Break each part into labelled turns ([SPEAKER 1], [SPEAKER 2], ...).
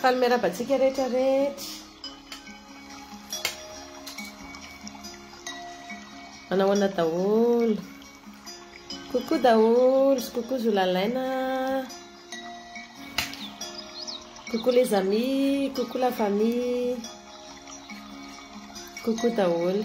[SPEAKER 1] Faly miaraba antsika rehetra rehetra. Manao ana daholo. Coucou daholo sy coucou zolalaina. Coucou les amis, coucou la famille. Coucou daholo.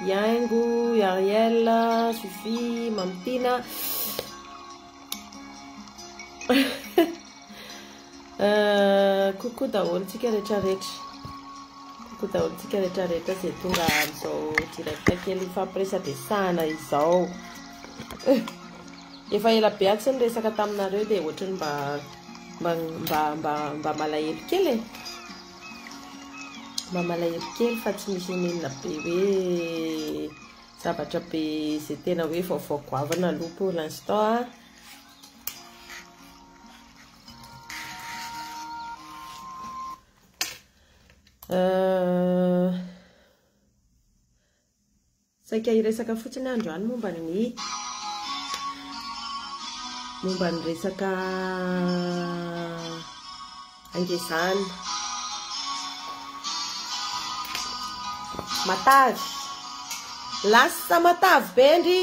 [SPEAKER 1] Yaingo, Yariel, Sophie, Mamy Tina. Euh, coucou daholo tsika rehetra rehetra coucou daholo tsika rehetra rehetra zay tonga amizao direct kely ifampiresadresahana izao efa ela be atsy ny resaka taminareo dia ohatrany mba mba mba mba mba malahelo kely e Mba malahelo kely fa tsy misy omenina be hoe zavatra be izay tena hoe vaovao goavana aloha pour l'instant a. Euh, Saika hiresaka fotsiny aho androany momba ny momba ny resaka angezana. Matavy. Lasa matavy be ndry.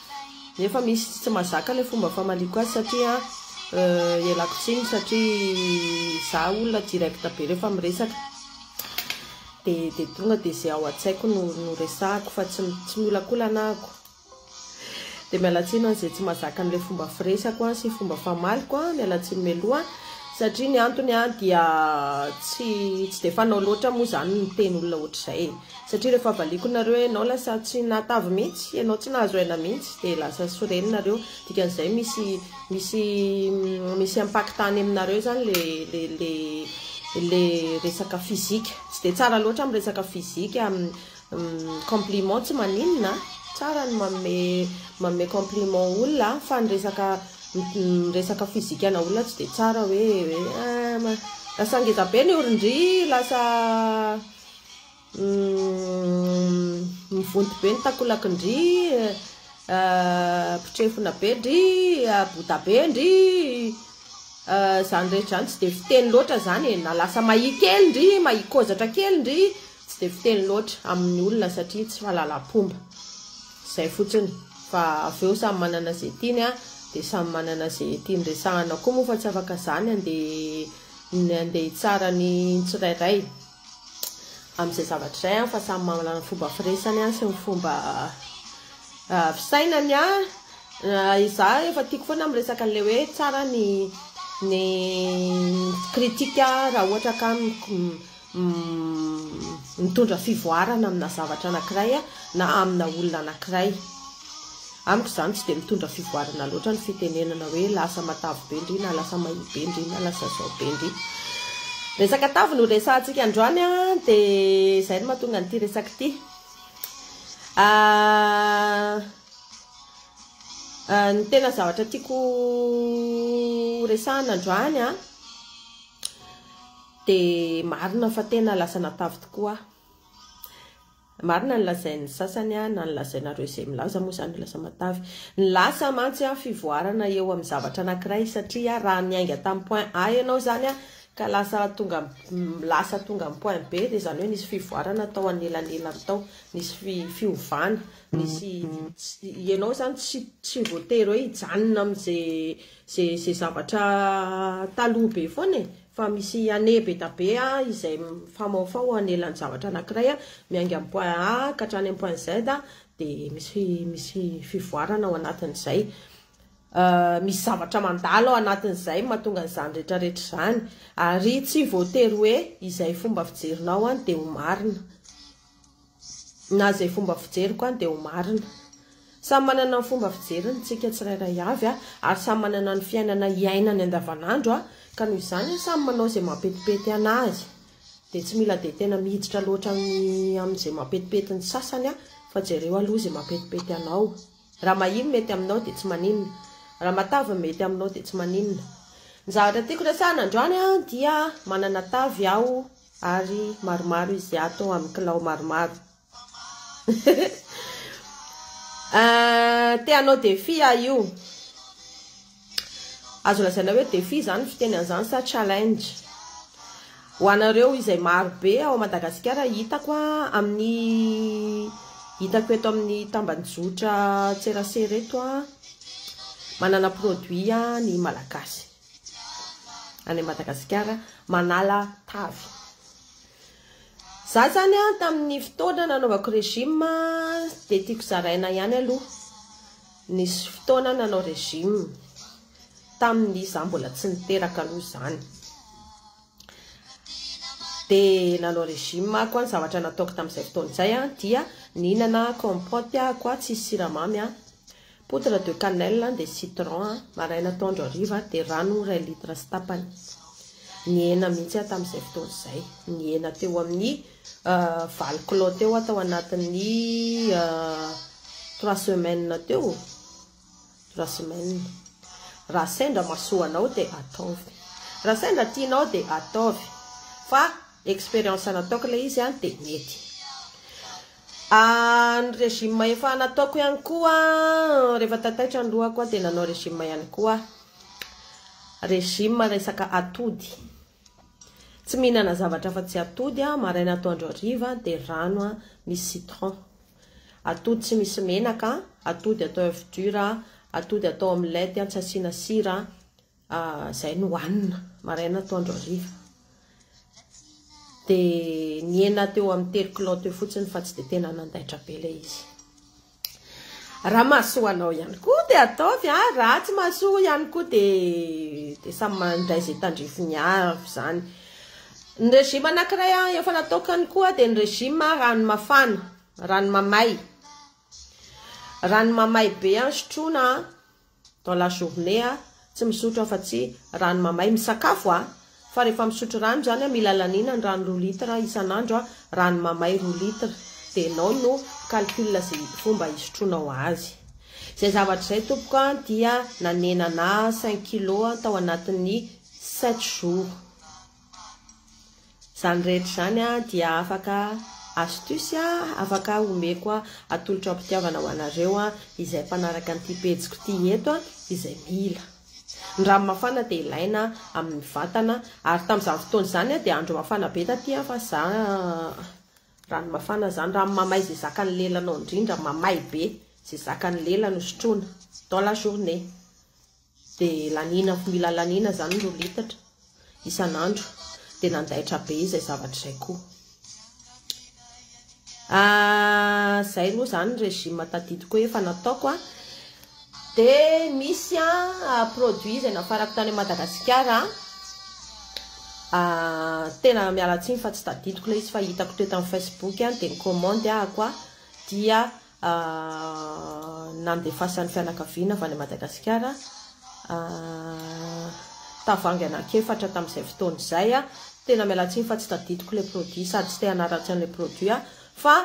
[SPEAKER 1] Nefa misy tsy mazaka le fomba famaliako azy satria ialako tsiny satria za olona direct be refa miresaka de de tonga de ze ao atsaiko no no resahako fa tsy tsy miolakolana ahako de mialatsiny an ze tsy mazaka anle fomba firesako an sy fomba famaliko an mialatsiny mialoha satria ny antony an dia tsy tsy de fanao loatra moa zany ny miteny olona ohatrizay e Satria rehefa valiako nareo hoe enao lasa tsy nahatavy mihitsy, enao tsy nahazo aina mihitsy dia lasa soreny nareo, dikan'izay misy misy misy impactany aminareo zany le le le le resaka physique, tsy dia tsara loatra am resaka physique am compliment tsy maninona a, tsara ny manome manome compliment olona a, fa ny resaka miresaka physique ana olona tsy dia tsara hoe eh lasa ngezabe ny orondria, lasa. Umm mivonto be ny takolaky ndry ah, potrefona be ndry ah, bota be ndry ah, zany rehetra zany tsy de fiteny loatra zany e, na lasa mahia kely ndry, mahia kozatra kely ndry, tsy de fiteny loatra amin'ny olona satria tsy fahalalam-pomba, zay fotsiny fa avy eo samy manana ze tiany a, de samy manana ze tiany resahana koa moa fa tsy afaka zany andeha ny andeha hitsara ny tsirairay amin'izay zavatra izay an fa samy manana ny fomba firesany an sy ny fomba ah, fisainany an ah, izaho efa tiako foana miresaka an'ilay hoe tsara ny ny critique raha ohatra ka Umm mitondra fivoarana amina zavatra anakiray na amina olona anakiray. Amiko izany tsy dia mitondra fivoarana loatra ny fitenenana hoe lasa matavy be ndry na lasa mahia be ndry na lasa izao be ndry. Resaka tavy no resahantsika androany an, dia izay no mahatonga an'ity resaka ity. Ahh ny tena zavatra tiako ho resahana androany an. Dia marina fa tena lasa natavy tokoa aho. Marina ny lazain'ny sasany aho na ny lazainareo izay milaza moa izany hoe lasa matavy. Ny lasa mantsy aho fivoarana eo amin'ny zavatra anankiray satria raha niainga tamin'ny point A ianao izany ka lasa tonga lasa tonga amin'ny point B dia izany hoe nisy fivoarana tao anelanelany tao, nisy fiovana, nisy ianao izany tsy tsy voatery hoe hijanona amin'izay izay izay zavatra taloha be foana e. fa misy année be da be izay mifamaofao anelan-javatra anankiray miainga amin'ny point A ka hatrany amin'ny point Z dia misy misy fivoarana ao anatin'izay. Misy zavatra mandalo ao anatin'izay mahatonga an'izany rehetrarehetra izany. Ary tsy voatery hoe izay fomba fijerinao dia ho marina. Na izay fomba fijeriko an dia ho marina. Samy manana ny fomba fijeriny ny tsika tsirairay avy an, ary samy manana ny fiainana hiainany andavanandro an, ka noho izany an samy manao izay mampetipety anazy. Dia tsy mila dia tena miditra loatra amin'ny amin'izay mampetipety ny sasany an, fa jereo aloha izay mampetipety anao. Raha mahia ny mety aminao dia tsy maninona. Raha matavy ny mety aminao dia tsy maninona. Ny zavatra tiako resahana androany an dia manana tavy aho. ary maromaro izy ato amin'ny kilao maromaro te hanao défi aho io azo lazaina hoe défi izany fiteny an'izany sa challenge ho anareo izay marobe ao Madagasikara hitako amin'ny hitako eto amin'ny tambanjotra tserasera eto manana produit ny malagasy any Madagasikara manala tavy. Za zany a tamin'ny fotoana nanaovako régime de tiako zaraina ihany aloha nisy fotoana nanao régime tamin'ny za mbola tsy niteraka aloha zany. Dia nanao régime aho koa, ny zavatra nataoko tamin'izay fotoana izay dia nihinana compote aho koa tsisy siramamy, poudre de cannelle dia citron maraina atoandro hariva dia rano iray litre sy tapany. Nihena mihitsy aho tamin'izay fotoana izay, nihena teo amin'ny euh, valo kilao teo aho tao anatin'ny euh, trois semaines teo. Raha semaine. Raha sendra mahasoa anao dia ataovy. Raha sendra tianao dia ataovy. Fa expérience nataoko ilay izy an dia mety. Ah, ny régime efa nataoko ihany koa rehefa tataitra ny lohako an dia nanao régime ihany koa aho. Régime resaka atody. Tsy mihinana zavatra afa-tsy atody aho maraina atoandro hariva dia rano an misy citron. Atody tsy misy menaka, atody atao oeuf dur, atody atao omelette tsy asiana sira, izay no hanina maraina atoandro hariva. Dia nihena teo amin'ny telo kilao teo fotsiny fa tsy dia tena nandaitra be ilay izy. Raha mahasoa anao ihany koa dia ataovy a, raha tsy mahasoa ihany koa dia dia samy mandray izay tandrifiny avy izany. Ny régime anankiray an efa nataokany koa dia ny régime rano mafana, rano mamay. Rano mamay be an sotroina an dans la journée an, tsy misotro afa tsy rano mamay, misakafo an fa rehefa misotro rano zany an mila laniana ny rano roa litre isan'andro an, rano mamay roa litre dia enao no calcule ze fomba isotroinao azy. Izay zavatra izay tompoko an dia nanenana cinq kilos tao anatin'ny Sept jours. Izany rehetra izany dia afaka astuce afaka omeko atolotro am-pitiavana ho anareo izay mpanaraka an'ity pejiko ity eto izay mila. Ny rano mafana dia ilaina amin'ny vatana ary tamin'izany fotoana izany dia andro mafana be taty fa za rano mafana izany, rano mamay izay zakan'ny lelanao indrindra, mamay be, izay zakan'ny lela no sotroina dans la journée. Dia laniana ko mila laniana izany roa litatra isan'andro dia nandaitra be izay zavatra izay koa ah, zay roa izany régime tadidiko efa nataoko ah. dia misy ah, produit izay nafarako tany Madagasikara ah, tena mialatsiny fa tsy tadidiko ilay izy fa hitako teto amin'ny Facebook dia ny commande ahako dia nandefasan'ny fianakaviana avy any Madagasikara tavangy anankiefatra tamin'izay fotoana izay, tena miala tsiny fa tsy tadidiko ilay produit sady tsy te hanaratsy an'ilay produit aho fa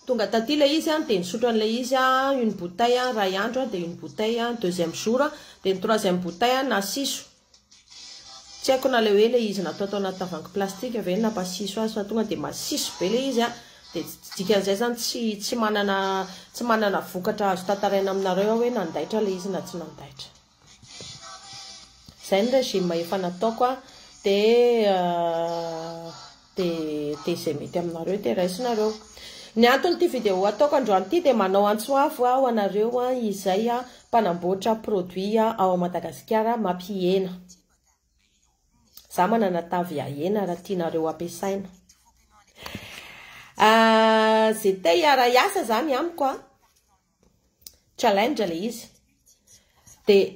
[SPEAKER 1] tonga taty ilay izy dia nisotro an'ilay izy aho une bouteille iray andro dia une bouteille deuxième jour dia ny troisième bouteille nasiso Tsy haiko na le hoe le izy natao tao anaty tavoahangy plastika ve no nampasiso azy fa tonga dia masiso be le izy a, dia dikan'izay zany tsy tsy manana tsy manana vokatra azo tantaraina aminareo aho hoe nandaitra le izy na tsy nandaitra. Zay ny régime efa nataoko a, dia. Dia dia izay mety aminareo dia raisinareo. Ny anton'ity vidéo ataoko androany ity dia manao antso avo aho anareo izay mpanamboatra produit ao Madagasikara mampihena. Za manana tavy ahena raha tianareo ampiasaina. Ze te hiara hiasa zany amiko a. Challenge le izy. Dia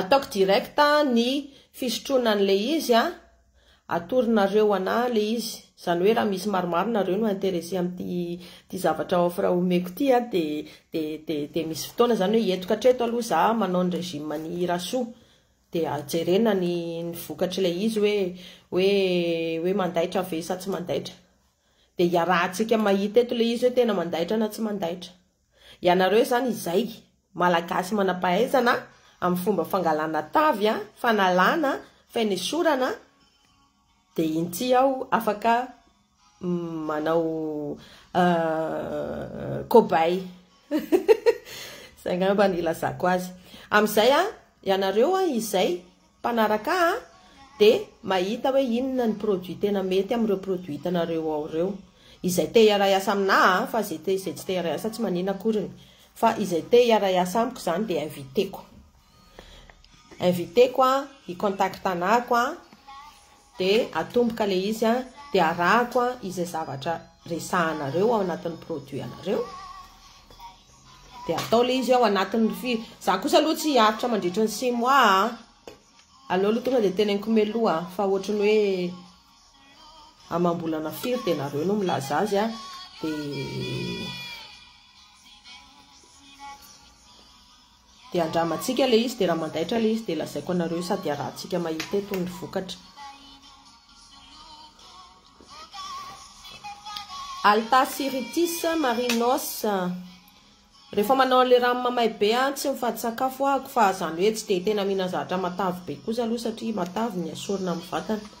[SPEAKER 1] Ataoko direct ny fisotroana an'ilay izy a, atoronareo ana ilay izy, izany hoe raha misy maromaro nareo no intéressé amin'ity zavatra offre omeko ity a, dia misy fotoana izany hoe entiko hatreto aloha za manao ny régime an'i Rasoa, dia jerena ny vokatr'ilay izy hoe hoe mandaitra ve sa tsy mandaitra, dia hiarahantsika mahita eto ilay izy hoe tena mandaitra na tsy mandaitra. Ianareo izany izay, Malagasy manampahaizana amin'ny fomba fangalana tavy, fanalana, fainesorana, dia iny ity aho afaka manao cobaye. Izay angamba no ilazako azy. Amin'izay, ianareo izay. mpanaraka a de mahita hoe inona ny produit tena mety amin'ireo produit hitanareo ao ireo. Izay te hiaray asa aminà a fa izay te izay tsy te hiaray asa tsy manina akoriny. Fa izay te hiaray asa amiko izany dia inviteko. Inviteko a, i contact-nako a. dia atomboka ilay izy an, dia arahako an izay zavatra resahanareo ao anatin'ny produit anareo, dia atao ilay izy ao anatin'ny fi, za kosa aloha tsy hiaritra mandritry ny six mois a, aleo aloha tonga dia teneniko mialoha fa ohatry ny hoe amam-bolana firy dia nareo no milaza azy a, dia. Dia andramantsika ilay izy dia raha mandaitra ilay izy dia lazaiko anareo io sady harahantsika mahita eto ny vokatra. Altasyritis marinos. Rehefa manao an'ilay rano mamay be aho tsy mifady sakafo ahako fa izany hoe tsy dia tena mihinana zavatra matavy be kosa aloha satria matavy ny asorina amin'ny vatana.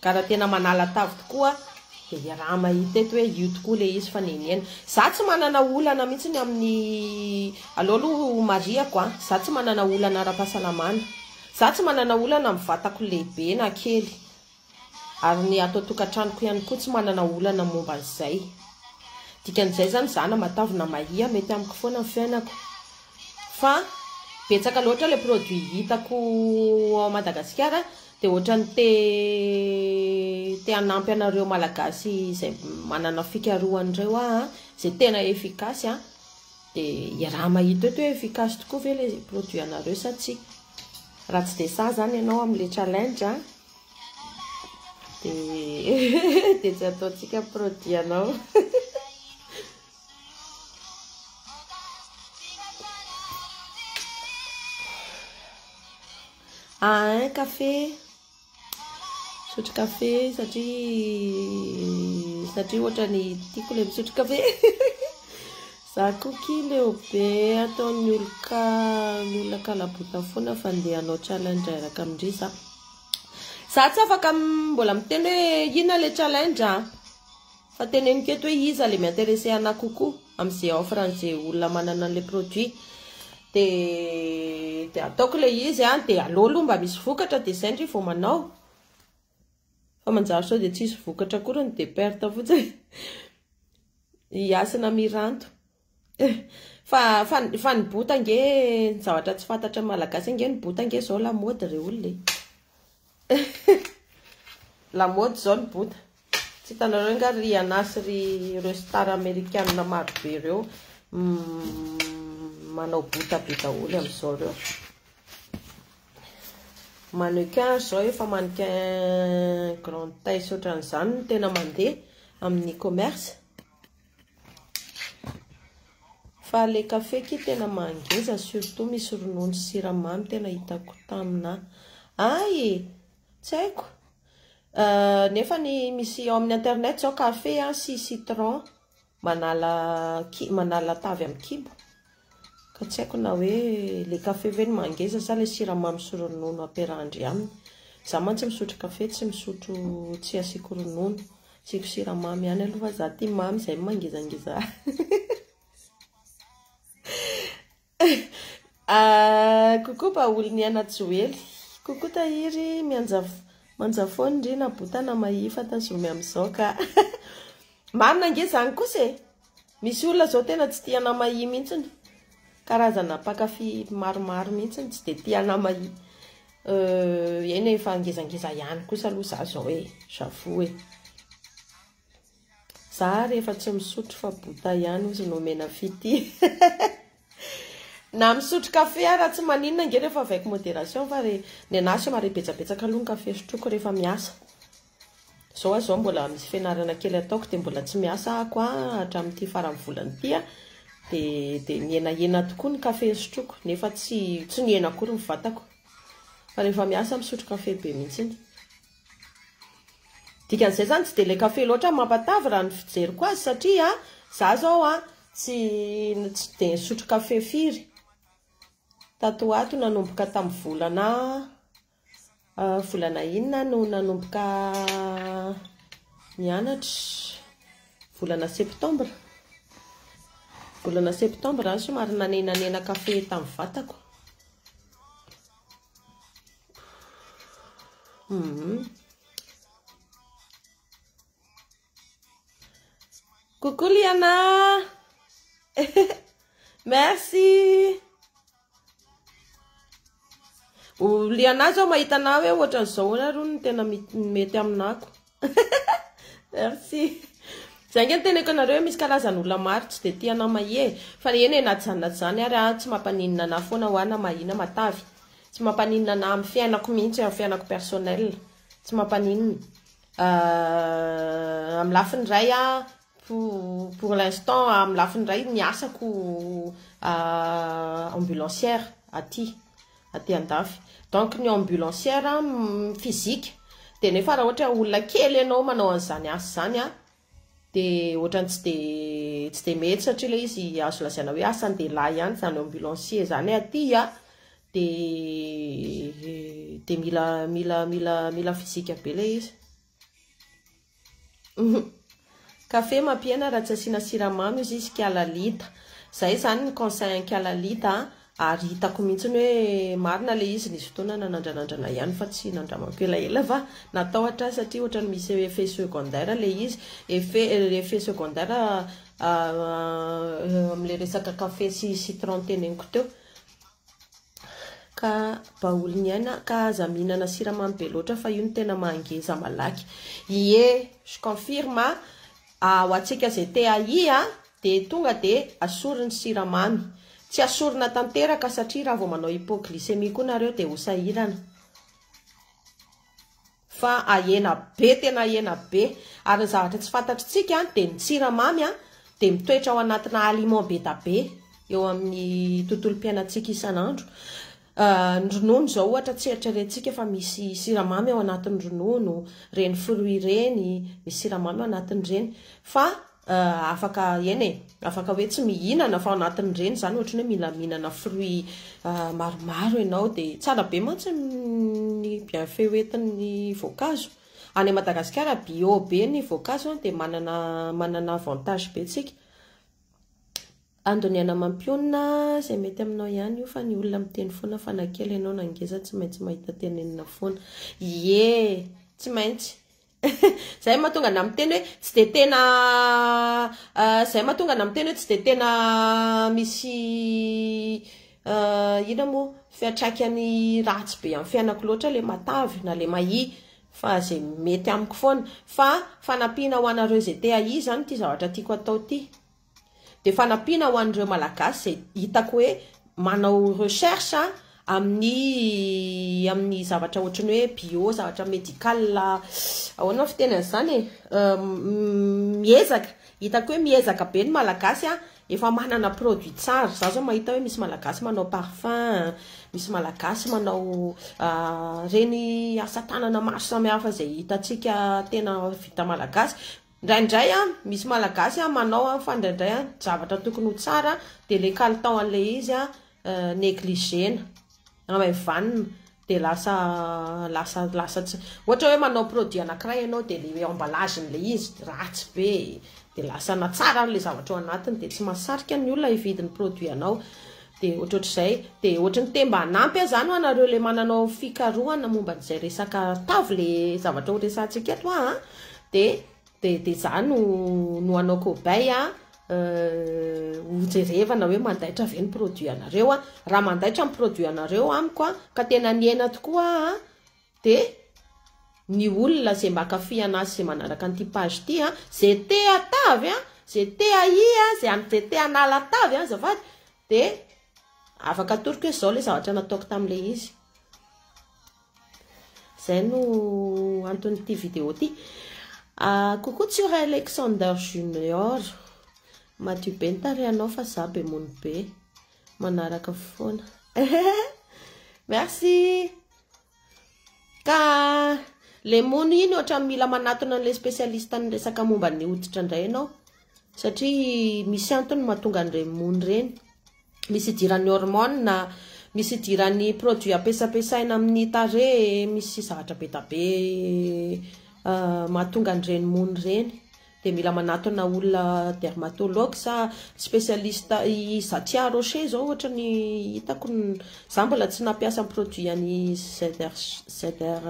[SPEAKER 1] Ka raha tena manala tavy tokoa dia iaraha mahita eto hoe io tokoa ilay izy fa nenihena. Izaho tsy manana olana mihitsy amin'ny, aleo aloha ho marihako an, izaho tsy manana olana ara-pahasalamana, izaho tsy manana olana amin'ny vatako lehibe na kely, ary ny ato an-tokantranoko ihany koa tsy manana olana momba an'izay. Dikan'izay izany izaho na matavy na mahia mety amiko foana ny fiainako. Fa betsaka loatra ilay produit hitako ao Madagasikara Dia ohatrany te te hanampy anareo malagasy izay manana fikarohana ireo aho a, izay tena efficace a, dia iaraha mahita eto hoe efficace tokoa ve ilay produit anareo sa tsia. Raha tsy dia sahy izany ianao amin'ilay challenge a, dia dia tsy ataontsika produit anao. Ah hein café Misotro café satria satria ohatrany tiako ilay misotro café Za koa ki leo be ataon'ny oloka ny olona kalabota foana fa ndeha hanao challenge araka amin-dry za Za tsy afaka mbola miteny hoe inona ilay challenge ah Fa teneniko eto hoe iza le mi-interesse anah kokoa am'ze offre an'ze olona manana an'le produit de de ataoko le izy an, de aleo aloha mba misy vokatra de zay ndry vao manao fa manjary sao de tsisy vokatra akoriny de perte fotsiny, hiasina miranto. Fa fa fa ny bota ange ny zavatra tsy fantatry ny malagasy ange ny bota ange zao lamaody re olona e. Lamaody izao ny bota. Tsy hitanareo nga ry Anah sy ry ireo star amerikana maro be ireo manao bota be daholo amin'izao ireo. Mannequin zao efa mannequin grande taille sy ohatran'izany no tena mandeha amin'ny e-commerce. Fa le café ki tena mangeja surtout misy ronono sy siramamy tena hitako tamina ay e! tsy haiko nefa ny misy ao amin'ny internet zao café sy citron manala manala tavy amin'ny kibo. Ka tsy haiko na hoe ilay kafe ve no mangeza sa ilay siramamy sy ronono ampiarahan-dry aminy. Izaho mantsy misotro kafe tsy misotro tsy asiako ronono. Asiako siramamy ihany aloha fa izaho tia mamy izay no mangezangeza ahy. Coucou baolina ihana joely. Coucou tahiry mianja manja foana ry na bota na mahia fa tazomy amin'izao ka. Marina ange izany kosa e. Misy olona zao tena tsy tia anamahia mintsiny, karazana mpankafy maromaro mintsiny tsy dia tia anamahia, euh eny e fa ngezangeza ihany kosa aloha za zao e, j'avoue e. Za rehefa tsy misotro fa bouta ihany ozy no omena fitia. Na misotro kafe ara tsy maninona ange rehefa avec modération fa re ny anah somary betsabetsaka aloha ny kafe sotroiko rehefa miasa. Zao ah zao mbola misy fianarana kely ataoko dia mbola tsy miasa ah ko ah hatramin'ity faran'ny volana ity ah dia dia mihenahena tokoa ny kafe sotroiko nefa tsy tsy nihena akory ny vatako fa rehefa miasa misotro kafe be mihitsiny. Dikan'izay zany tsy dia le kafe loatra no mampatavy raha ny fijeriko azy satria za zao a tsy tsy dia nisotro kafe firy tato ho ato nanomboka tamin'ny volana volana inona aho no nanomboka nianatra? volana septembre volana septembre aho somary nanenanena kafe tamin'ny vatako Coucou Liana Merci Liana zao mahita anah hoe ohatran'izao ahoana aloha no tena mety aminako Merci. Zay nge ny teneko anareo e, misy karazany olona maro tsy de tia anao mahia e, fa eny e na tsy zany na tsy zany ary aho tsy mampaninona anah foana hoa na mahia na matavy, tsy mampaninona anah amin'ny fiainako mihitsy, amin'ny fiainako personnel, tsy mampaninona, amin'ny lafiny iray aho Pour l'instant amin'ny lafiny iray ny asako ambulancière aty aty andafy donc ny ambulancière physique dia nefa raha ohatra hoe olona kely ianao manao an'izany asa izany an dia ohatran'ny tsy dia tsy dia mety satria ilay izy azo lazaina hoe asan-dehilahy ihany izany ambulancier izany aty an dia dia mila mila mila mila physique be ilay izy Café mampihena raha tsy asiana siramamy io sisy ka lalita. Zay zany ny conseil an'i ka lalita a. Ary hitako mihitsy hoe marina ilay izy nisy fotoana nanandranandrana ihany fa tsy nandramako elaela fa natao hatrany satria ohatran'ny misy effet secondaire ilay izy. Effet effet secondaire amin'ilay resaka café sy citron teneniko teo. Ka baoly ny aina ka aza mihinana siramamy be loatra fa io no tena mahangeza malaky. Ie, je confirme a, ho antsika izay te hahia dia tonga dia asory ny siramamy. Tsy asorina tanteraka satria raha vao manao hypoglycémie koa nareo dia ho sahirana. fa ahena be tena ahena be ary ny zavatra tsy fantatritsika dia ny tsiramamy dia mitoetra ao anatina aliment bedabe eo amin'ny tontolom-piainantsika isan'andro ny ronono izao ohatra tsy eritreretintsika fa misy siramamy ao anatin'ny ronono ireny fruit ireny misy siramamy ao anatin'ireny fa Ahh afaka eny e, afaka hoe tsy mihinana fa ao anatin'ireny izany ohatrany hoe mila mihinana fruit maromaro ianao dia tsara be mantsy ny bienfait hoentin'ny voankazo. Any Madagasikara bio be ny voankazo an dia manana manana avantage be tsika. Handoniana amam-pionona izay mety aminao ihany io fa ny olona miteny foana fa na kely ianao na ngeza tsy maintsy mahita tenenina foana. Ie tsy maintsy Zay mahatonga anah miteny hoe tsy dia tena zay mahatonga anah miteny hoe tsy dia tena misy inona moa fiantraikany ratsy be amin'ny fiainako loatra ilay matavy na ilay mahia fa izay mety amiko foana fa fanampiana ho anareo izay te-hahia izany ity zavatra tiako atao ity. dia fanampiana ho an'ireo Malagasy izay hitako hoe manao recherche amin'ny amin'ny zavatra ohatran'ny hoe bio, zavatra médical, ahoana ny fiteny an'izany e, miezaka, hitako hoe miezaka be ny Malagasy an, efa manana produit tsara, izaho izao mahita hoe misy Malagasy manao parfum, misy Malagasy manao ireny asa tanana maro samihafa izay hitantsika tena vita Malagasy. Indraindray an, misy malagasy an manao an fa indraindray an zavatra tokony ho tsara dia ilay kalitao an'ilay izy an negligena, amaivanina dia lasa lasa lasa tsy, ohatra hoe manao produit anankiray ianao dia ilay emballage n'ilay izy ratsy be e, dia lasa na tsara ary ilay zavatra ao anatiny dia tsy mahasarika ny olona hividy ny produit anao, Dia ohatrohatr'izay. Dia ohatry ny te-mba hanampy ahy izany hoanareo ilay mananao fikarohana momba an'izay resaka arotavo ilay zavatra horesahantsika eto an. Dia dia dia izaho no no hanao cobaye an, hojerevana hoe mandaitra ve ny produit anareo an. Raha mandaitra ny produit anareo amiko an, ka tena nihena tokoa aho an, Dia ny olona izay mba kafy anazy izay manaraka an'ity page ity a, izay te hatavy a, izay te hahia a, izay izay te hanala tavy a azafady dia afaka atoroko hoe izao ilay zavatra nataoko tamin'ilay izy. Izay no anton'ity vidéo ity. Ah, coucou Tsura Alexander Junior. Madio be ny tarehanao fa za be mony be. Manaraka foana. Merci. Ka le mono iny ohatrany mila manatona an'ilay spécialiste niresaka momba ny hoditra indray ianao satria misy antony mahatonga an'ireny mono ireny. Misy idiran'ny hormone, misy idiran'ny produits ampesapesaina amin'ny tarehy, misy zavatra be dia be mahatonga an'ireny mono ireny. Dia mila manatona olona dermatologue sa specialiste i Zatia Rocher zao ohatra ny hitako za mbola tsy nampiasa ny produit an'i ZR ZR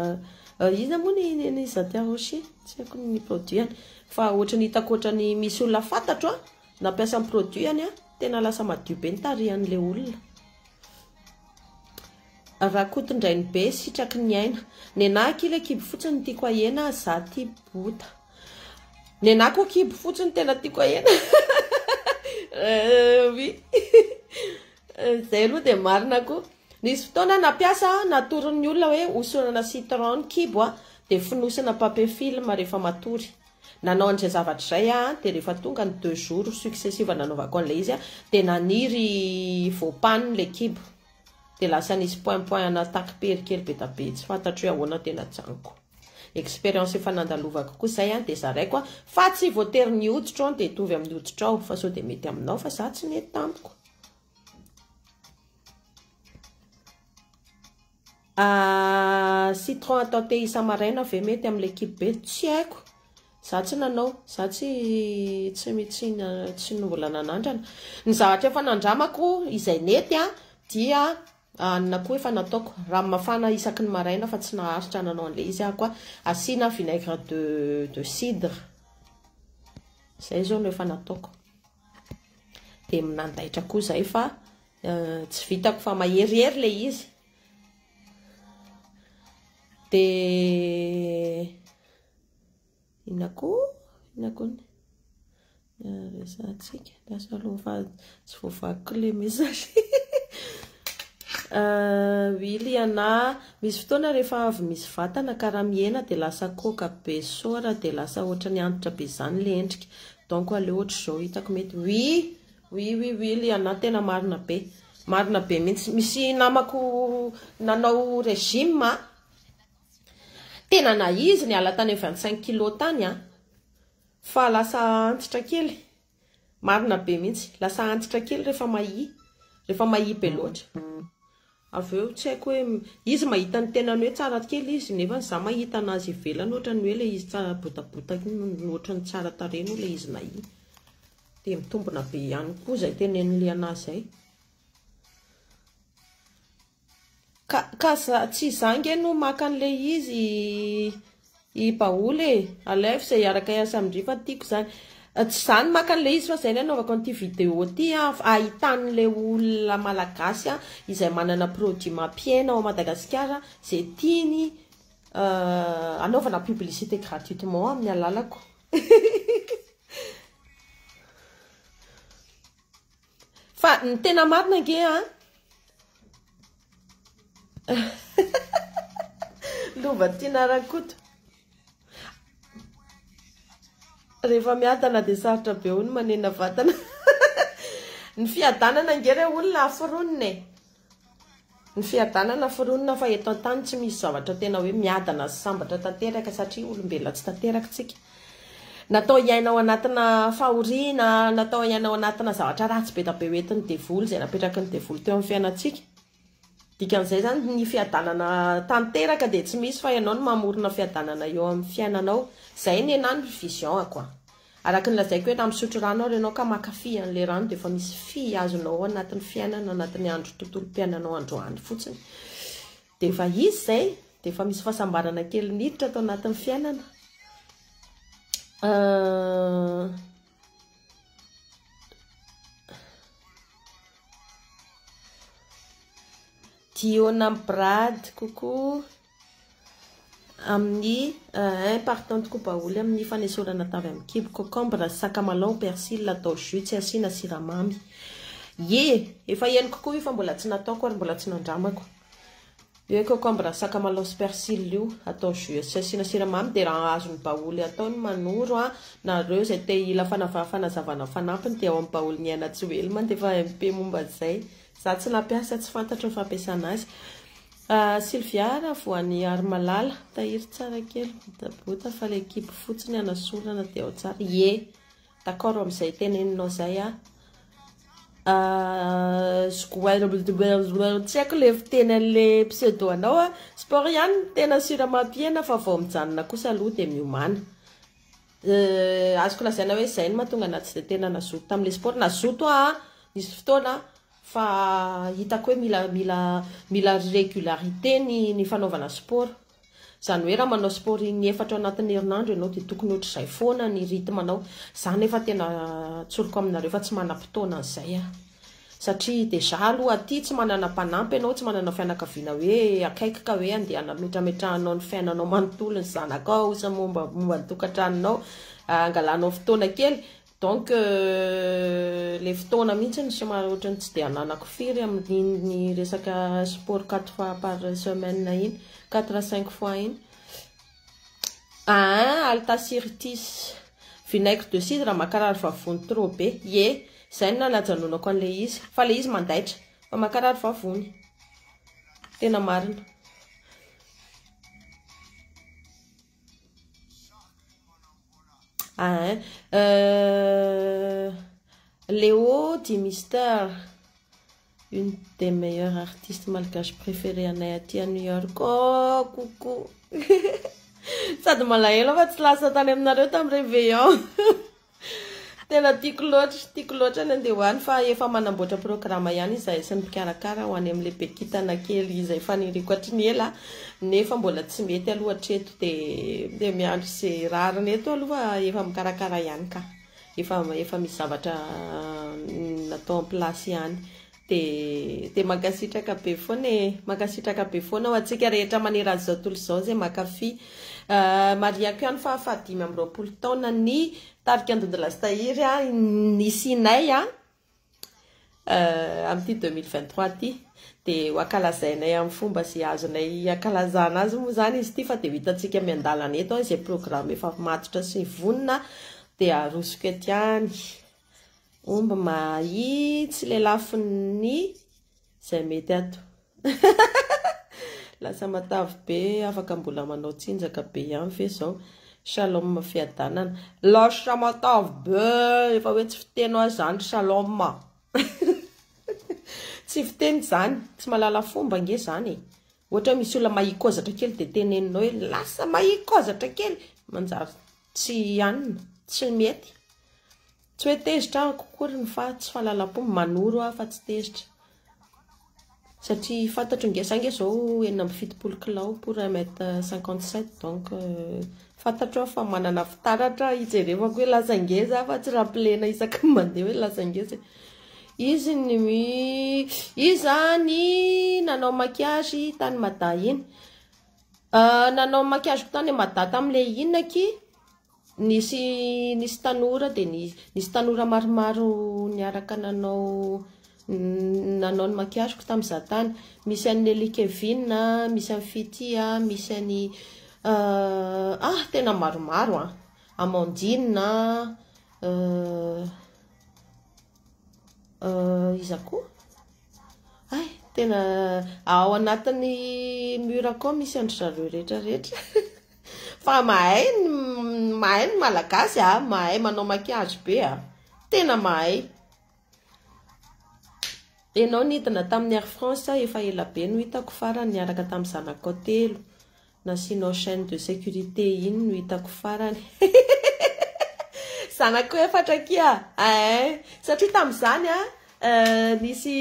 [SPEAKER 1] inona moa ny an'i Zatia Rocher tsy haiko ny produit any fa ohatra ny hitako ohatra ny misy olona fantatro a nampiasa ny produit any a tena lasa madio be ny tarihan'ilay olona Rakotondrainibe sitraky ny aina. Nenah kila kibo fotsiny tiako ahena za ty bota. Nenah ko kibo fotsiny tena tiako ahena euh oui zay aloha dia marina ko. Nisy fotoana nampiasa aho natoron'ny olona hoe hosorana citron ny kibo a dia fonosina papier film rehefa matory. Nanao an'izay zavatra izay aho dia rehefa tonga ny deux jours successive nanaovako an'ilay izy dia naniry voampano ilay kibo. Dia lasa nisy point point ana attaque pery kely be da be tsy fantatro hoe ahoana tena janiko. Expérience efa nandalovako koa zay an dia zaraiko an fa tsy voatery ny hoditro an dia hitovy amin'ny hoditrao fa sao dia mety aminao fa za tsy mety tamiko. Ahh citron atao thé isa-maraina ve mety amin'ilay kibo be? Tsy haiko, za tsy nanao, za tsy tsy mbola nanandrana. Ny zavatra efa nandramako izay nety an, dia hanina koa efa nataoko, rano mafana isaky ny maraina fa tsy naharitra nanao an'ilay izy aho koa, asiana vinaigre de cidre, izay izao no efa nataoko. Dia nandaitra koa izay fa tsy vitako fa maherihery ilay izy. Dia inona koa inona koa ny resahantsika lasa aloha tsy voavakiko ilay message Willy ana misy fotoana rehefa avy misy vatana ka raha mihena dia lasa koaka be sora dia lasa ohatran'ny antitra be izany ilay endrika donc aleo ohatr'izao hitako mety oui Oui oui oui Liana tena marina be marina be mintsy misy namako nanao regime a tena na izy niala tany 25 kilos tany a fa lasa antitra kely marina be mintsy lasa antitra kely rehefa mahia rehefa mahia be loatra avy eo tsy haiko hoe izy mahita ny tenany hoe tsara kely izy nefa za mahita anazy ivelany ohatran'ny hoe le izy tsara botabota ohatran'ny tsara tarehy no le izy nahia dia mitombina be ihany koa izay tenen'i Liana izay. Ka, ka tsy izaho nge no maka an'ilay izy i Baoly e, alaivo izay hiaraka hiasa amin-dry fa tiako izany. Eh, tsy izaho no maka an'ilay izy fa izay no anaovako an'ity vidéo ity an, ahitan'ilay olona malagasy an, izay manana produit mampihena ao Madagasikara izay tiany eh, anaovana publicité gratuitement amin'ny alalako. Fa ny tena marina ange a. Lova Tina Rakoto. Rehefa miadana dia sarotra be ho ny manena vatana. Ny fiadanana ange re olona aforonina e. Ny fiadanana foronina fa eto an-tany tsy misy zavatra tena hoe miadana sy sambatra tanteraka satria olombelona tsy tanteraka tsika. Natao hiaina ao anatina fahoriana, natao hiaina ao anatina zavatra ratsy be dia be ho entin'ny devoly izay napetraky ny devoly teo amin'ny fiainantsika. Dikan'izay izany ny fiadanana tanteraka dia tsy misy fa ianao no mamorona fiadanana eo amin'ny fiainanao. Izay ny ahy ny vision-ko an. Araka ny lazaiko hoe raha misotro rano ary ianao ka maka fy an'ilay rano dia efa misy fy azonao ao anatin'ny fiainana anatin'ny andro tontolom-piainanao androany fotsiny dia efa izy izay dia efa misy fahasambarana kely niditra tao anatin'ny fiainana euh... Diona Brad, coucou. Amin'ny un partante koa baoly amin'ny fanesorana atavy amin'ny kibo, cocombre, sakamalaho, persil atao jus tsy asiana siramamy. Ye! Efa henoko koa io fa mbola tsy nataoko ary mbola tsy nandramako. Io hoe cocombre, sakamalaho sy persil io atao jus tsy asiana siramamy dia raha azon'ny baoly atao ny manoro an! Nareo izay te hila fanazavana fanampiny dia ao amin'ny baoly miaina tsy ho ela mandefa MP momba izay. Za tsy nampiasa tsy fantatro ny fampiasana azy. A Sylvia raha voan'ny ary malala, tahiry tsara kely, botabota fa ilay kibo fotsiny hanasorana dia ao tsara, ie, d'accord amin'izay teneninao izay aho, a zgoairblbrbl tsy haiko ilay fiteny an'ilay pseudo anao a, sport ihany no tena sûr amam-pihena fa vao mijanona kosa aloha dia miomàna, e azoko lazaina hoe izay no mahatonga anah tsy dia tena nazoto tamin'ilay sport, nazoto aho nisy fotoana aho. Fa hitako hoe mila mila mila régularité ny ny fanaovana sport. Izany hoe raha manao sport in efatra anatin'ny herinandro ianao dia tokony ohatr'izay foana ny rythme anao. Izaho nefa tena tsoriko aminareo fa tsy manam-potoana an'izay aho. Satria déjà aloha aty tsy manana mpanampy ianao, tsy manana fianakaviana hoe akaiky ka hoe andeha anametrametrahanao ny fiainanao manontolo ny zanakao sy ny momba momba ny tokantranonao, angalanao fotoana kely. Donc le fotoana mihitsy ny somary ohatran'ny tsy dia ananako firy amin'iny resaka sport quatre fois par semaine iny, quatre à cinq fois iny. Aa altasiritis, vinaigre de cidre mankarary vavony trop be, ye, zay no nanajanonako an'ilay izy, fa ilay izy mandaitra, fa mankarary vavony, tena marina. Ain. Euh, Léo dit Mister, une des meilleures artistes malgaches préférées anay aty à New York. Oh, coucou. Sady malahelo aho fa tsy lasa tany aminareo tamin'ny réveillon. Tena tiako loatra, tiako loatra ny andeha ho any fa efa manamboatra programa ihany izahay sy ny mpikarakara ho any amin'ilay be kintana kely izay faniriako hatry ny ela nefa mbola tsy mety aloha hatreto dia miandry izay rariny eto aloha fa efa mikarakara ihany ka, efa efa misy zavatra natao en place ihany. Dia mankasitraka be foana e. Mankasitraka be foana ho antsika rehetra manerana izao tontolo izao izay mankafy. Marihako ihany fa faha dimy amby roapolo taona ny tarika Ndondy Lastahiry nisianay amin'ity deux mille vingt trois ity. Dia ho ankalazainay amin'ny fomba izay azonay ankalazana azy moa izany izy ity fa dia ho hitantsika miandalana eto izay programa efa matotra sy vonona dia arosoko ety ihany. Omby mahi tsy lelafiny ny zay mety ato lasa matavy be afaka mbola manao tsinjaka be ihany ve zao shalom fiadanana lasa matavy be efa hoe tsy fiteny hoa zany shalom tsy fiteny zany tsy malala fomba nge zany e Ohatra hoe misy olona mahikozatra kely dia teneninao hoe lasa mahikozatra kely, manjary tsy hanina, tsy mety. Tsy hoe tezitra aho akory fa tsy fahalalam-po, manoro aho fa tsy tezitra. Satria fantatro nge, za nge izao enina amby fitopolo kilao pour un mètre cinquante sept donc fantatro aho fa manana fitaratra hijerevako hoe lasa ngeza aho fa tsy raha am-pilena isaky ny mandeha hoe lasa ngeza e. Izy ny iza ny nanao maquillage tany Mada iny? Euh, nanao maquillage tany Mada tamin'ilay inona aky? Nisy nisy tanora dia nisy tanora maromaro niaraka nanao nanao ny maquillage-ko tamin'ny izaho tany. Misy an'i Nelly Kevin, misy an'i Fity, misy an'i euh ah tena maromaro an! Amandine an, euh. Iza koa? Hay, tena ao anatin'ny mur akao misy an-dry zareo rehetra rehetra. Fa mahay ny mahay ny malagasy ah, mahay manao maquillage be ah. Tena mahay. Ianao nidina tamin'ny Air France efa ela be no hitako farany niaraka tamin'ny zanakao telo. Nasianao chaine de sécurité iny no hitako farany zanako efatra akia eeh satria tamin'izany a nisy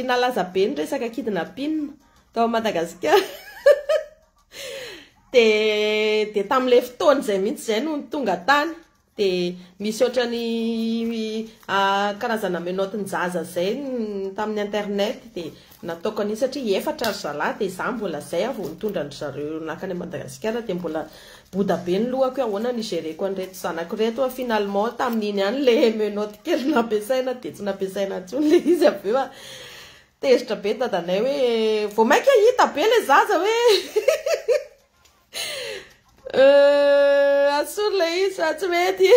[SPEAKER 1] nalaza be ny resaka kidnappine tao Madagasikara dia dia tamin'ilay fotoana izay mihitsy izay no tonga tany Dia misy ohatrany karazana menottes njaza zay tamin'ny internet dia nataoko an'iny satria efatra ry zalahy dia za mbola zay aho vao nitondra an-dry zareo nankany a Madagasikara dia mbola boda be ny lohako hoe ahoana no igereko an'ireto zanako ireto fa finalement tamin'iny ihany le menottes kely nampiasaina dia tsy nampiasaina intsony le izy avy eo tezitra be ny dadanay hoe vao maika hita be le zaza hoe Euh, asolo le izy fa tsy mety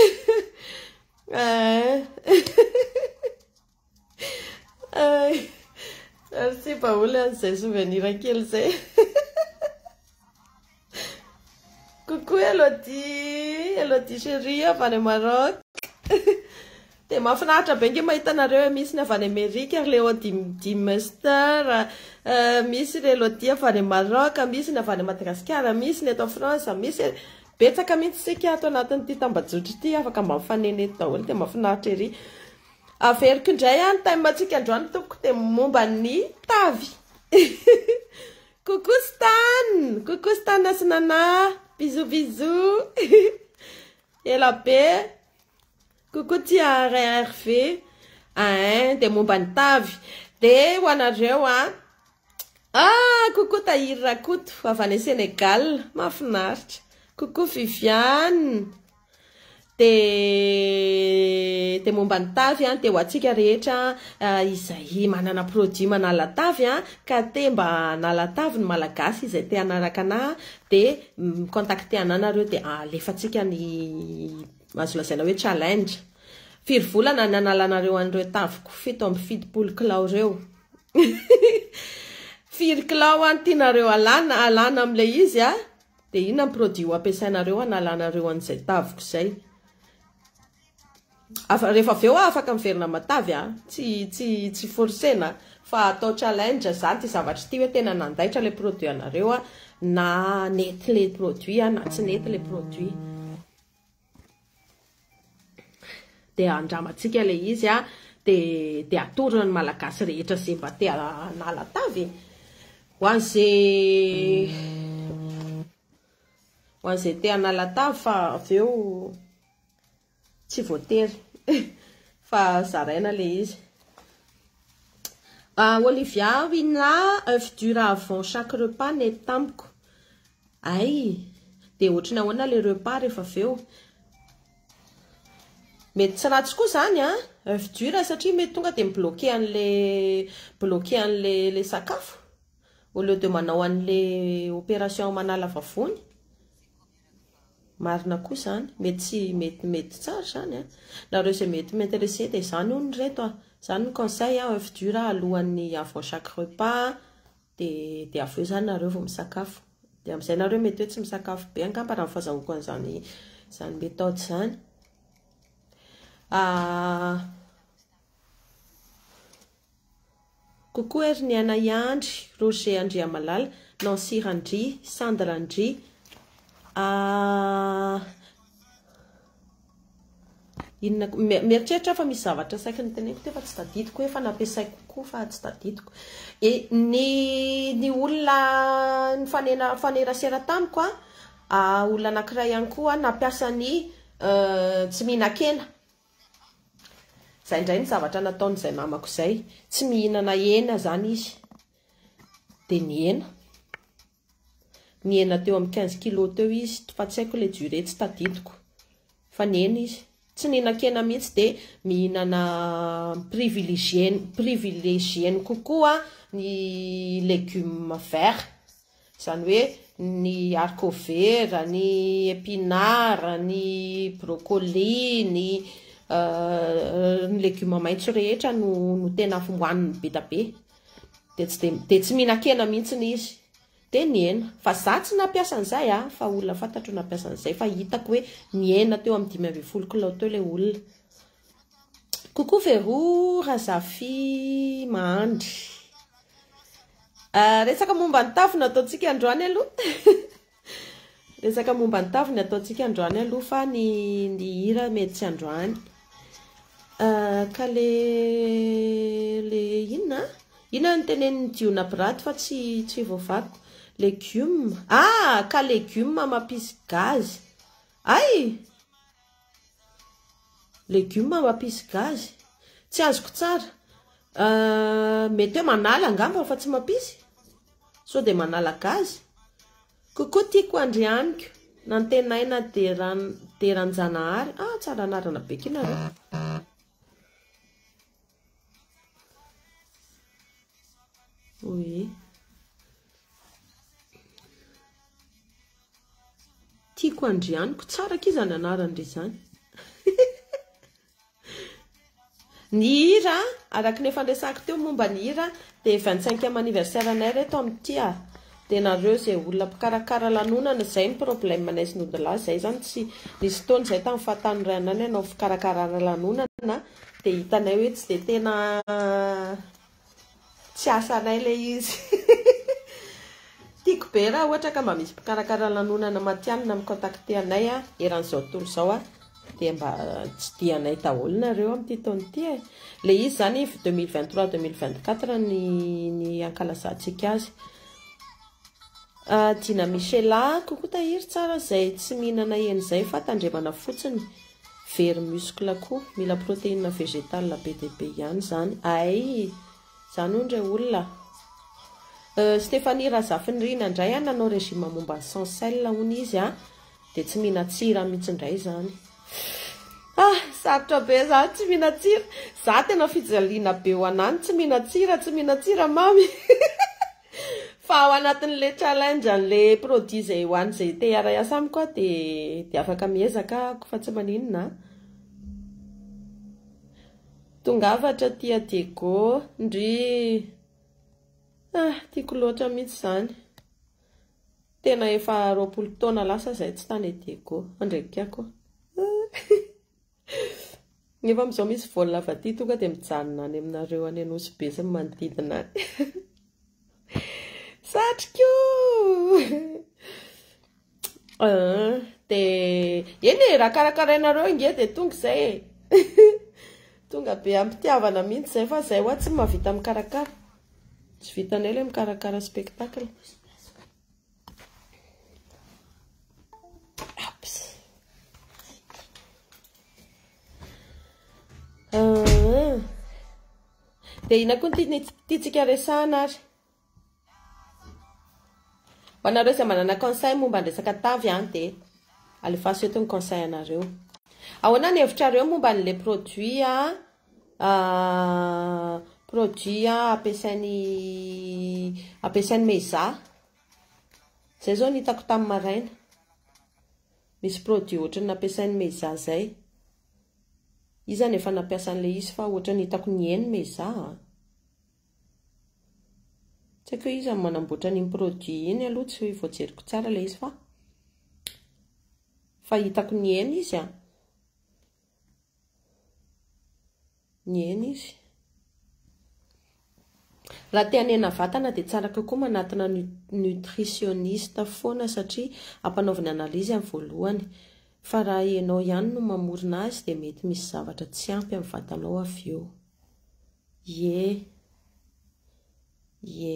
[SPEAKER 1] eh. merci baoly an'izay souvenir kely zay coucou elodie elodie chérie avy any maroc Dia mahafinaritra be nge mahita anareo e, misy ny avy any Amerika, ry Léo Dim Dimster, misy ry Elodie avy any Maroc, misy ny avy any Madagasikara, misy ny eto France, misy e, betsaka mihitsy isika ato anatin'ity tambajotra ity, afaka mba mifanena eto daholo dia mahafinaritra ery. Averiko indray an ny thème antsika androany tompoko dia momba ny tavy. Coucou Stan, coucou Stan sy Nana, bisous bisous, ela be. Coucou tia RRV ain de momba ny tavy de ho anareo a ah coucou Tahiry Rakoto avy any Sénégal mahafinaritra coucou Viviane de de momba ny tavy a de ho antsika rehetra izay manana produit manala tavy a ka te mba hanala tavy ny malagasy izay te hanaraka anah de mi-contacter anah nareo de alefatsika ny Azo lazaina hoe challenge. Firy volana ny analanareo an'ireo taviko fito amby fitopolo kilao ireo? Firy kilao an tianareo alana alana amin'ilay izy a? Dia inona ny produit ho ampiasainareo hanalanareo an'izay taviko izay? Afa rehefa avy eo aho afaka miverina matavy a! Tsy tsy tsy forcena fa atao challenge izany ity zavatra ity hoe tena nandaitra ilay produit anareo a na nety ilay produit a na tsy nety ilay produit. dia andramantsika ilay izy a, dia dia atorina ny Malagasy rehetra izay mba te hanala tavy e, ho an'izay ho an'izay te hanala tavy fa avy eo tsy voatery fa zaraina ilay izy. Ah, Olivia Wina, œuf dur avant chaque repas nety tamiko. Ay! Dia ohatry ny ahoana ilay repas rehefa avy eo? Mety tsy ratsy koa izany an! Oeuf dur satria mety tonga dia mi-bloquer an'ilay bloquer an'ilay ilay sakafo au lieu de manao an'ilay opération manala vavony. Marina koa izany, mety tsy mety mety tsara izany an! Nareo izay mety mi-interesser dia izany hono ry reto an! Izany ny conseil an! Oeuf dur alohan'ny avant chaque repas an! Dia dia avy eo izany nareo vao misakafo. Dia amin'izay nareo mety hoe tsy misakafo be angamba raha ny fazahoako an'izany izany méthode izany. Ah, coucou Herniana Iandry, Roger Andriamalala, Nancy Randria, Sandra Ndry, ah, Inona koa? Mieritreritra aho fa misy zavatra saiky noteneniko teo fa tsy tadidiko hoe efa nampiasaiko koa fa tsy tadidiko. E, ny, ny olona nifanena, nifanerasera tamiko an, a, olona anankiray ihany koa nampiasa ny uh, tsy mihinan-kena. Izay indray ny zavatra nataon'izay mamako izay. Tsy mihinana hena izany izy. Dia nihena. Nihena teo amin'ny quinze kilos teo izy fa tsy haiko ilay durée tsy tadidiko fa nihena izy. Tsy nihinan-kena mihitsy dia mihinana privilegier-ny privilegier-ny kokoa ny légumes verts. Izany hoe ny haricot vert, ny épinards, ny brocolis, ny ny légumes maitso rehetra no tena hohaniny be dia be. Dia tsy dia dia tsy mihinan-kena mihitsy izy. Dia nihena. Fa za tsy nampiasa an'izay a! Fa olona fantatro no nampiasa an'izay. Fa hitako hoe nihena teo amin'ny dimy ambin'ny folo kilao teo ilay olona. Coucou Vero, Razafi, Mahandry. Resaka momba ny tafo no ataontsika androany aloha. Resaka momba ny tavy ny ataontsika androany aloha fa ny ny hira mety tsy androany. Ka le le inona a? Inona ny tenenin'i Jiona Brat fa tsy tsy voavakiko. Legioma. Ah, ka legioma mampisy gazy. Ay! Legioma mampisy gazy? Tsy azoko tsara. Mety hoe manala angamba fa tsy mampisy? Sao dia manala gazy? Coucou tiako andry amiko Nantenaina Deran Deranjanahary ah tsara anarana be ky nareo. Oui. Tiako Andrianiko. Tsara akia izany anarany re izany. Ny hira, araka ny efa niresahako teo momba ny hira, dia 25e anniversaire anay re eto amin'ny tia. Dia nareo izay olona mpikarakara lanonana, izay ny problème anay sy ny odilahy, izay izany tsy, nisy fotoana izay tamin'ny fahatany iray andro ihany hanao fikarakarana lanonana, Dia hitanay hoe tsy dia tena tsy asanay ilay izy. Tiako be raha ohatra ka mba misy mpikarakara lanonana matihanina mi-contacter anay eran'izao tontolo izao a, dia mba tsidihanay daholo nareo amin'ity taona ity e. Ilay izy izany iv 2023-2024 ny ny hankalazantsika azy. Dina Michela, coucou tahiry tsara izay tsy mihinana hena izay fa tandremana fotsiny. very muscle koa mila protéine végétale be dia be ihany izany ay izany hono re olona euh, Stéphanie Razafinirina indray a nanao régime momba ny sans sel hono izy a dia tsy mihinan-tsira mihitsy indray izany ah sarotra be izany tsy mihinan-tsira za tena fijaliana be ho anany tsy mihinan-tsira tsy mihinan-tsira mamy Fa ao anatin'le challenge an'le produit zay ho an'zay te hiara hiasa amiko aho de de afaka miezaka ako fa tsy maninona a. Tongava hatratia Diego, ndryy. Ah tiako loatra mihitsy izany. Tena efa roapolo taona lasa izay tsy tany Diego, handrebiky akoho. Nefa amizao misy vol avy aty tonga dia mijanona any aminareo any Anosy Be sy ny manodidina any. Satriko! Ah, dia eny e, raha karakarainareo ange dia tonga izay e. Tonga be am-pitiavana mihitsy izay fa izay hoa tsy mahavita mikarakara. Tsy vitanay ilay mikarakara spectacle. Dia ina koa ny tiantsika resahana ary? Ho anareo izay manana conseil momba ny resaka tavy an dia alefaso eto ny conseil anareo. Ahoana ny hevitrareo momba an'ilay produit Produit ampiasain'i ampiasain'i Meiza. Izay izao no hitako tamin'ny maraina. Misy produit ohatran'ny nampiasain'i Meiza izay. Izy izany efa nampiasa an'ilay izy fa ohatran'ny hitako niheny Meiza a. Tsy haiko hoe iza no manamboatra an'iny produit iny aloha tsy voajeriko tsara ilay izy fa fa hitako niheny izy a. Nihaino izy. Raha te hanena vatana dia tsara kokoa manatona nutritioniste foana satria ampanaoviny analyse amin'ny voalohany fa raha ianao ihany no mamorona azy dia mety misy zavatra tsy ampy amin'ny vatanao avy eo. Ie. Ie.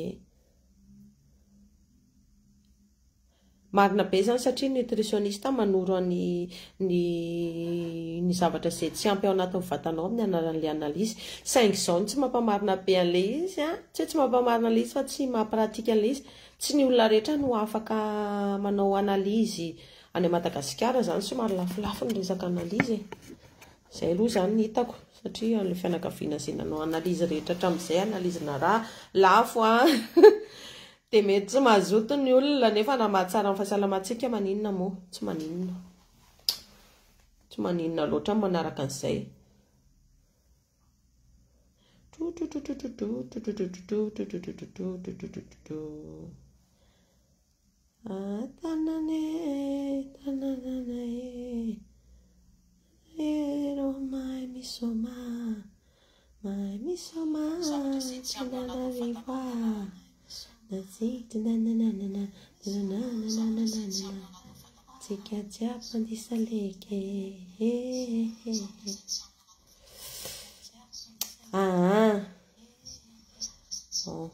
[SPEAKER 1] Marina be izany satria ny nutritioniste manoro an ny ny ny zavatra izay tsy ampy ao anatin'ny vatanao amin'ny anaran'ilay analyse. Saingy izao no tsy mampamarina be an'ilay izy an, tsy hoe tsy mampamarina ilay izy fa tsy maha pratique an'ilay izy. Tsy ny olona rehetra no afaka manao analyse any Madagasikara izany, somary lafolafo ny resaka analyse e. Izay aloha izany no hitako satria an'ilay fianakaviana izay nanao analyse rehetra hatramin'izay, analyse-na ra lafo an, Dia mety tsy mazoto ny olona nefa na mahatsara ny fahasalamantsika maninona moa? Tsy maninona. Tsy maninona loatra ny manaraka an'izay. Ah tanana e, tananana e. Ianao mahay misaoma, mahay misaoma, Antananarivo ah. Natsika nananana, nananana, tsika jiaby mandisa leke. Ah, bon,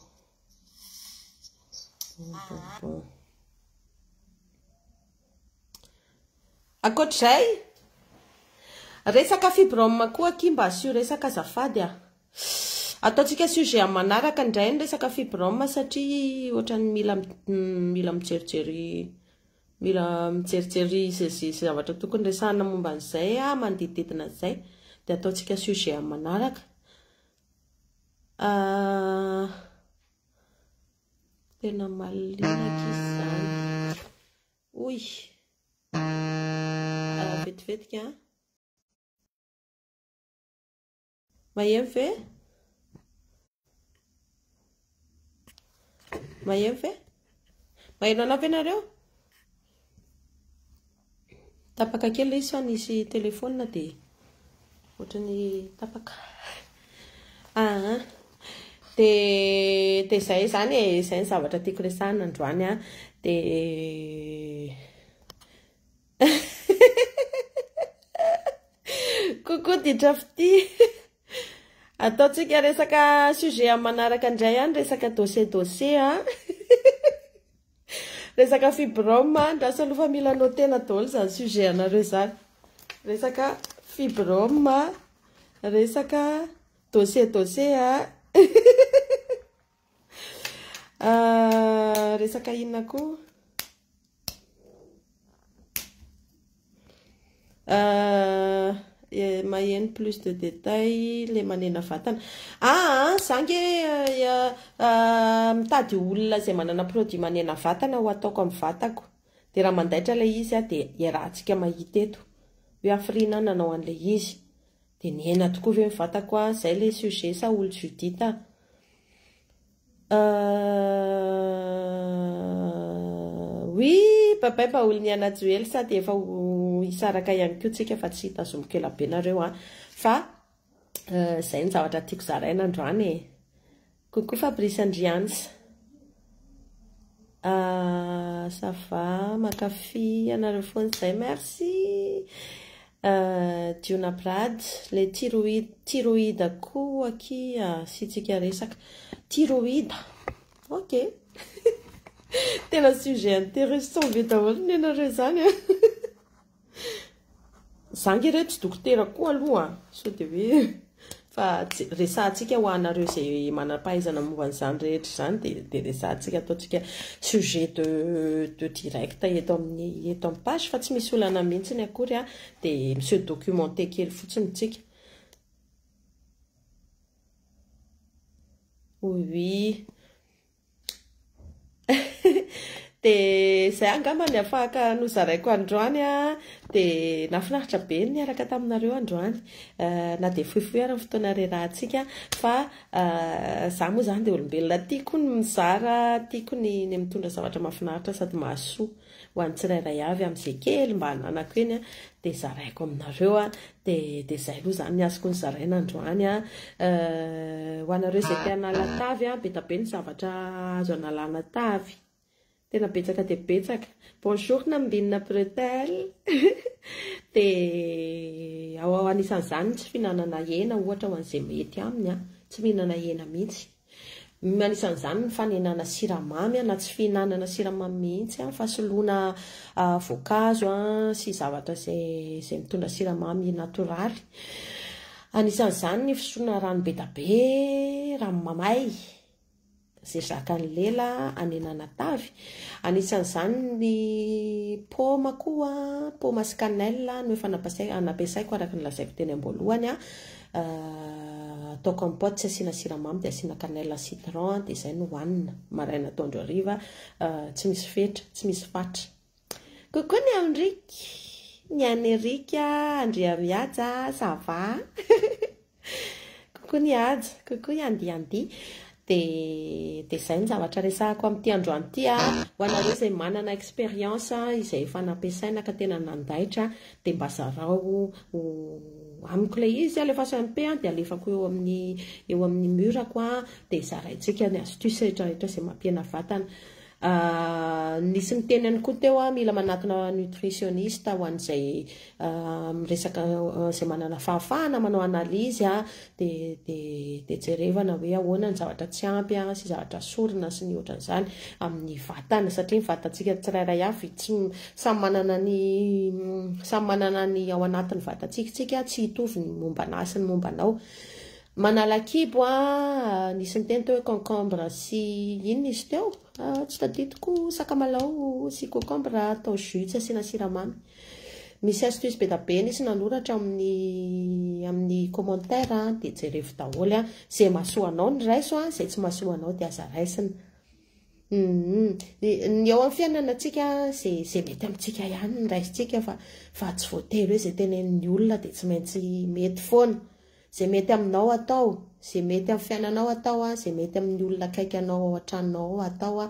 [SPEAKER 1] bon, bon, bon. Ankoatra izay, resaka fibrome koa akia mba asio resaka azafady a! Ataontsika sujet amin'ny manaraka indray ny resaka fibrome satria ohatran'ny mila mila mijerijery mila mijerijery izay zavatra tokony resahina momba an'izay aho manodidididina an'izay dia ataontsika sujet amin'ny manaraka. Tena malilinaka izy izany. Oy! Ara vetivetika an. Maheno ve? Maheno ve? Maheno anao ve nareo? Tapaka kely ilay izy fa nisy telephone dia ohatran'ny tapaka aa dia dia izay izany e, izay ny zavatra tiako resahina androany an, dia coucou Ditra fitia ataontsika resaka sujet amin'ny manaraka indray an, resaka dossier dossier an Resaka fibrome a, andraso aloha fa mila notena daholo izany sujet anareo izany. Resaka fibrome, resaka dossier dossier a. Resaka inona koa? Maheno plus de details le manena vatana. Aa za nge mitady olona izay manana produit manena vatana ho ataoko amin'ny vatako, dia raha mandaitra ilay izy aho dia iarahantsika mahita eto hoe hafiriana aho nanao an'ilay izy, dia nihena tokoa ve ny vatako aho? Izay ilay sujet sa olo-Judith a? Ahh oui babay mba olon'i Anna Joely sa dia efa ho hisaraka ihany koa tsika fa tsy tazomiko ela be nareo an! fa izay ny zavatra tiako zaraina androany e! Coucou Fabrice and Rian's. Ahh ça va mankafy anareo foana zay merci ahh Diona Brad le tiroida tiroida koa aky asiantsika resaka tiroida ok tena sujet interessant be daholo nenareo zany an. Za nge re tsy dokotera koa aloha sao dia hoe fa resahantsika ho anareo izay manam-pahaizana momba an'izany rehetra izany dia resahantsika ataontsika sujet de de direct eto amin'ny eto amin'ny page fa tsy misy olana mihitsy akory a dia mi-se documenter kely fotsiny isika oui Dia izay angamba ny afahaka nozaraiko androany a, dia nahafinaritra be ny niaraka taminareo androany, na dia fohifohy ary ny fotoana rerahantsika fa izaho moa izany dia olombelona tiako ny mizara, tiako ny mitondra zavatra mahafinaritra sady mahasoa ho an'ny tsirairay avy amin'izay kely mba ananako eny dia zaraiko aminareo, Dia dia izay aloha izany ny azoko nozaraina androany an! Ho anareo izay te hanala tavy an, be da be ny zavatra azo analana tavy. Tena betsaka dia betsaka. Bonjour Nambinina Bretelle! Dia ao anisan'izany ny tsy fihinanana hena ohatra ho an'izay mety aminy an! Tsy mihinana hena mihitsy. Ny anisan'izany ny fanenana siramamy na tsy fihinanana siramamy mihitsy fa soloina voankazo sy zavatra izay mitondra siramamy natoraly. Anisan'izany ny fisotroana rano bedabe, rano mamay izay zakan'ny lela hanenana tavy. Anisan'izany ny paoma koa, paoma sy cannelle no efa nampiasaiko araka ny lazaiko teny am-boalohany Atao compote tsy asiana siramamy dia asiana cannelle citron dia izay no hohanina maraina atoandro hariva tsy misy fetra tsy misy fatra coucou ny Henrique ny an'i Erika Andriamihaja ça va coucou ny Haja coucou Yandi Yandi Dia dia izay ny zavatra resahako amin'ity androany ity a! Ho anareo izay manana expérience izay efa nampiasaina ka tena nandaitra dia mba zarao ho amiko ilay izy, alefaso MP dia alefako eo amin'ny eo amin'ny mur-ko dia zaraintsika ny astuce rehetra rehetra izay mampihena vatana. Ahh nisy niteny ihany koa teo ah mila manatona nutritioniste ho an'izay ah miresaka izay manana fahafahana manao analyse ah de de de jerevana hoe ahoana ny zavatra tsy ampy ah sy zavatra sorona sy ny ohatran'izany amin'ny vatana satria ny vatantsika tsirairay avy tsy samy manana ny samy manana ny ao anatin'ny vatantsika tsika tsy hitovy ny momba anah sy ny momba anao Manala kibo ah, nisy niteny teo hoe concombre sy inona izy teo? Ah, tsy tadidiko, sakamalao sy concombre atao jus tsy asiana siramamy. Misy astuce be da be nisy nanoratra amin'ny amin'ny commentaire ah, dia jerevo daholo ah, izay mahasoa anao no raiso ah, izay tsy mahasoa anao dia aza raisina. Humm, ny eo amin'ny fiainana antsika izay izay mety amintsika ihany no raisintsika fa fa tsy voatery hoe izay tenenin'ny olona dia tsy maintsy mety foana. Ze mety aminao atao, ze mety am fiainanao atao a, ze mety amin'ny olona akaiky anao ao an-tranonao ao atao a,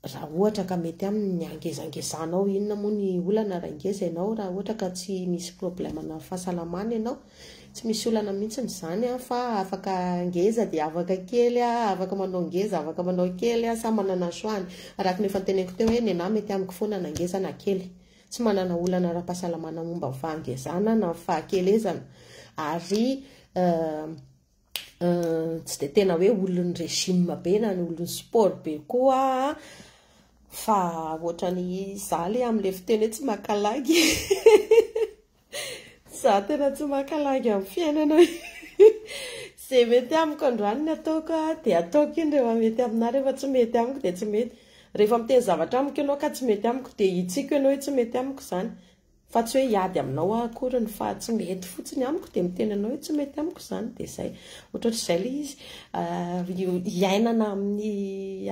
[SPEAKER 1] raha ohatra ka mety aminy ny hangezangezanao, inona moa ny olana raha ngeza ianao, raha ohatra ka tsy misy problème na fahasalamana ianao, tsy misy olana mihitsy izany a, fa afaka ngeza dia afaka kely a, afaka manao ngeza afaka manao kely a, samy manana ny choix-ny, araka ny efa noteneniko teo hoe nenah mety amiko foana na ngeza na kely. tsy manana olana ara-pahasalamana momba ny fahangezana na ny fahakelezana ary tsy dia tena hoe olon'ny régime be na ny olon'ny sport be koa fa ohatran'ny izaho le amin'ilay fiteny hoe tsy maka lagy Za tena tsy maka lagy amin'ny fiainana Ze mety amiko androany no ataoko a, dia ataoko iny rehefa mety aminà, rehefa tsy mety amiko dia tsy mety. Rehefa miteny zavatra amiko ianao ka tsy mety amiko dia hitsiko ianao hoe tsy mety amiko izany, fa tsy hoe hiady aminao aho akoriny fa tsy mety fotsiny amiko dia miteny anao hoe tsy mety amiko izany, dia izay. Ohatraohatr'izay ilay izy, hiainana amin'ny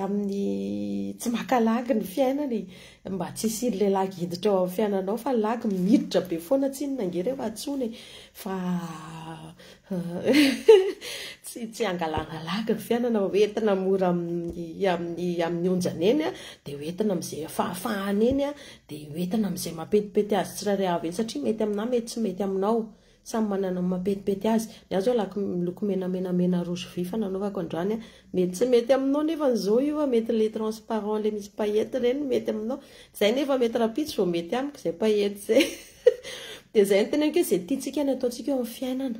[SPEAKER 1] amin'ny tsy maka lagy ny fiainana e. Mba tsy hisiry le lagy hiditra ao am fiananao fa lagy miditra be foana tsinona ange reo atsony e fa tsy tsy angalana lagy ny fianana ho entina mora amin'ny amin'ny onjany eny dia ho entina amin'izay fahafahana eny dia ho entina amin'izay mampetipety azy tsirairay avy eny satria mety aminà mety tsy mety aminao Samy manana ny mapetipety azy. Ny ahy zao laky miloko menamenamena roa sy vy fa nanaovako androany an. Mety tsy mety aminao nefa ny zao io an, mety le transparent le misy paillettes ireny no mety aminao. Zay nefa mety rahampitso vao mety amiko zay paillettes zay. Dia zay no teneniko hoe zay tiantsika no ataontsika eo amin'ny fiainana.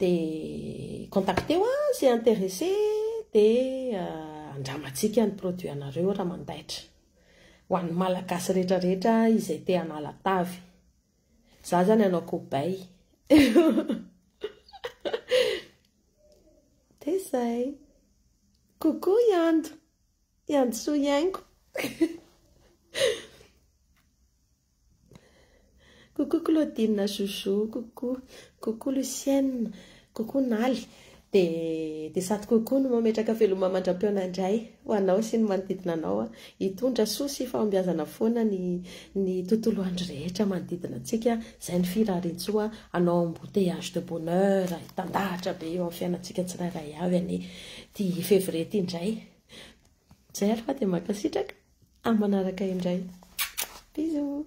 [SPEAKER 1] Dia contacteo ahy izay interesse dia andramantsika ny produit anareo raha mandaitra. Ho an'ny Malagasy rehetra rehetra izay te hanala tavy. Izaho izany hanao cobaye. Dia izay. Coucou Yando. Yandisoa Iaingo. Coucou Claudine Jojo coucou coucou Lucienne coucou Naly dia dia sady coucou no mametraka veloma mandram-pihaona indray ho anao sy ny manodidina anao hitondra soa sy fahombiazana foana ny ny tontolo andro rehetra manodidina antsika izay ny firariantsoa anao embouteillage de bonheur hitandahatra be eo amin'ny fiainantsika tsirairay avy anie ity février ity indray Jerva dia mankasitraka, amin'ny manaraka indray. Bisous.